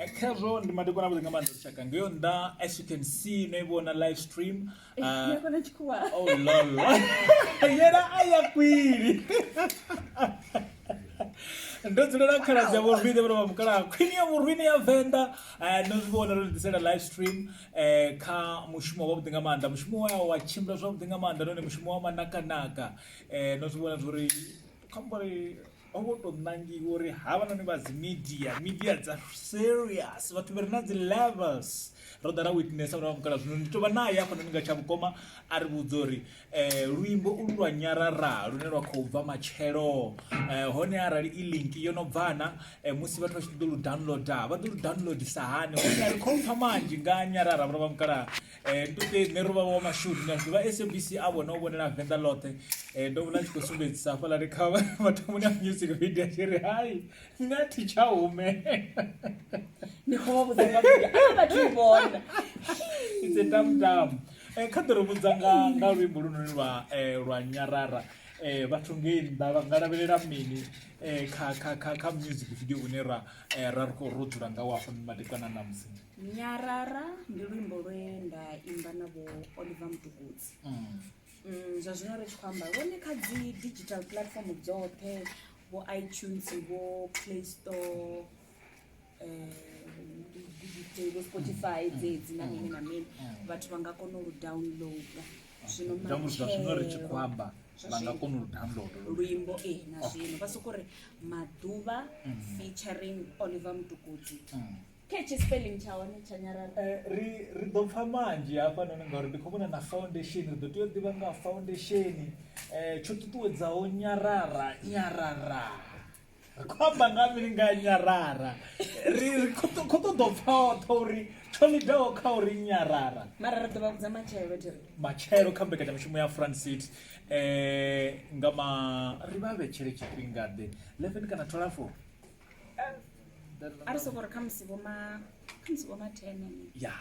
khazwo ndi madekwana avhuḓi nga maanḓa lushaka nga yo nnḓa as you can see no i vhona live stream uh, oh lolo yena a ya kwili ndo dzulela khaladzi ya vhorwine vhona vha mukalaha khwini ya vhorwine ya venḓa eh, no zwi vhona ro ḓisela live stream eh, kha mushumo wavhuḓi nga maanḓa mushumo wa wa tshimbila zwavhuḓi nga maanḓa none mushumo wa manakanaka eh, no zwi vhona zwori khambori ho ngo to ṋangiwa uri havhanoni vha dzi media media dza serious vhathu vha re na dzi levels ro ḓa ra witness uri vha mukala zwino ndi tovha naye afha noni nga tsha vhukoma a ri vhudza uri um luimbo ulu lwa nyarara lune lwa khou bva matshelo um hone arali i link yo no bvana um musi vhathu vha tshi ṱoḓa lu downloada vha ḓo lu downloadisa hani hone a ri khou pfha manzhi nga nyarara vhura vha mukala Eh, nduke nṋe ro vha wa mashudu na ḓivha sabc a vhona u vhonela venḓa ḽoṱhe eh, ndo vhona tshi khou sumbedzisa hafhalani kha mathomoni a music video tshi ri hai nṋe a thi tsha hume ni khou vha vhudza nga vhathu vhona it's a dam dam eh, kha ḓo ri vhudza nga nga luimbo lunoni lwa lwa nyarara eh vhathu ngei nnḓa vha nga lavhelela mini eh kha kha kha kha music video une ra ra ri khou ro dzula nga wa hafha madekwana na musi nyarara ndi luimbo lwe nda imba na vho oliver mutukudzi mm. Mm, zwa zwino ri tshi khou amba lwone kha dzi digital platform dzoṱhe vho itunes vho play store vho eh, spotify mm. dzedzi na mini na mini mm. vhathu vha nga kona u downloada zwino matshelo ri tshi khou amba vha nga kona u download luimbo e na zwino vha soko ri maḓuvha mm. featuring oliver mutukudzi mm. Catchy spelling tsha hone tsha nyarara. Eh, ri ri ḓo pfa manzhi hafhanoni ngauri ndi khou vhona na foundation ri ḓo tea u ḓivha nga ha foundation um tsho ṱuṱuwedzaho nyarara nyarara ri khou amba nga ha mini nga ha nyarara ri ri khou ṱo- khou ṱoḓa u pfa oṱhe uri tsho lidaho kha uri nyarara Mara ri ḓo vha vhudza matshelo thiri. matshelo kha mbekanyamushumo ya francit um nga ma ri vha vhetshele tshifhingaḓe 11 kana 12 a ri soko ri khamusi vhoma khamusi vhoma tene ya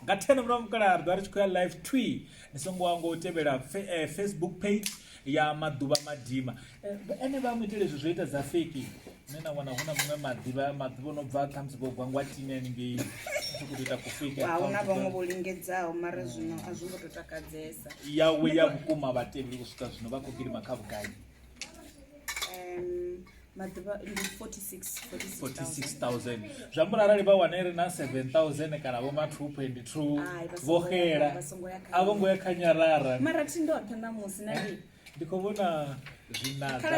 nga tene murahu mukala ri ḓo ri tshi khou ya live twi ni songo wa ngo tevhela eh, facebook page ya maḓuvha madima eh, ene vha mu itele izwi zwo ita dza feki nṋe na wana hu na muṅwe maḓivha maḓuvha no bva khamusi vho gwa ngwatini haningei tshi khou ita kufeki ahuna vhaṅwe vho lingedzaho mara zwino a zwi ngo to takadzesa yawe ya vhukuma vhatevheli u swika zwino vha khou gidima kha vhugai maḓuvha ndi 46000 zwi ambula arali vha wana iri na 7000 kana vho ma 2.2 vho xela a vho ngo ya kha nyarara mara thi ndoṱhe ṋamusi na ndi ndi khou vhona zwinadza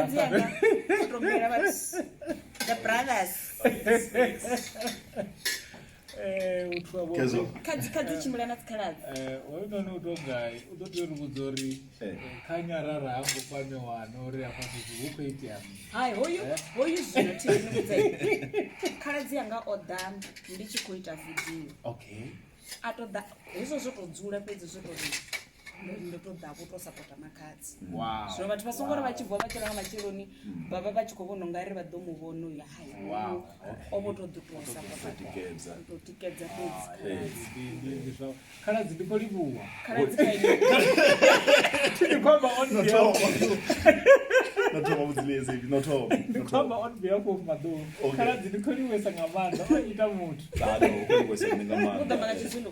Eh, u thuwa vho- Kezo. khadzi khadzi u tshimbila na dzikhaladzi Eh, hoyunoni u to gai u ḓo tea uri vhudza uri Eh. kha nyarara ha ngo kwamiwana uri hafha fhethu hu khou itea mini hai hoyu hoyu zwino thinivhudza khaladzi yanga o ḓa ndi tshi khou ita vidio okay a to ḓa hezwo zwo to dzula fhedzi zwo to ri ndo to ḓa vho to sapota makhadzi zwino vhathu vha songo ri vha tshi vuwa vha tshi ranga matsheloni vha vha vha tshi khou vhona u nga ri vha ḓo mu vhona uyo hai o vho to ḓi to sapota to tikedza fhedzi khaladzi ndi khou livhuwa khaladzi ndikhomba on behalf ndikhomba on behalf of maḓou khaladzi ndi khou livhuwesa nga maanḓa o ita muthu u ḓo mala tshizwino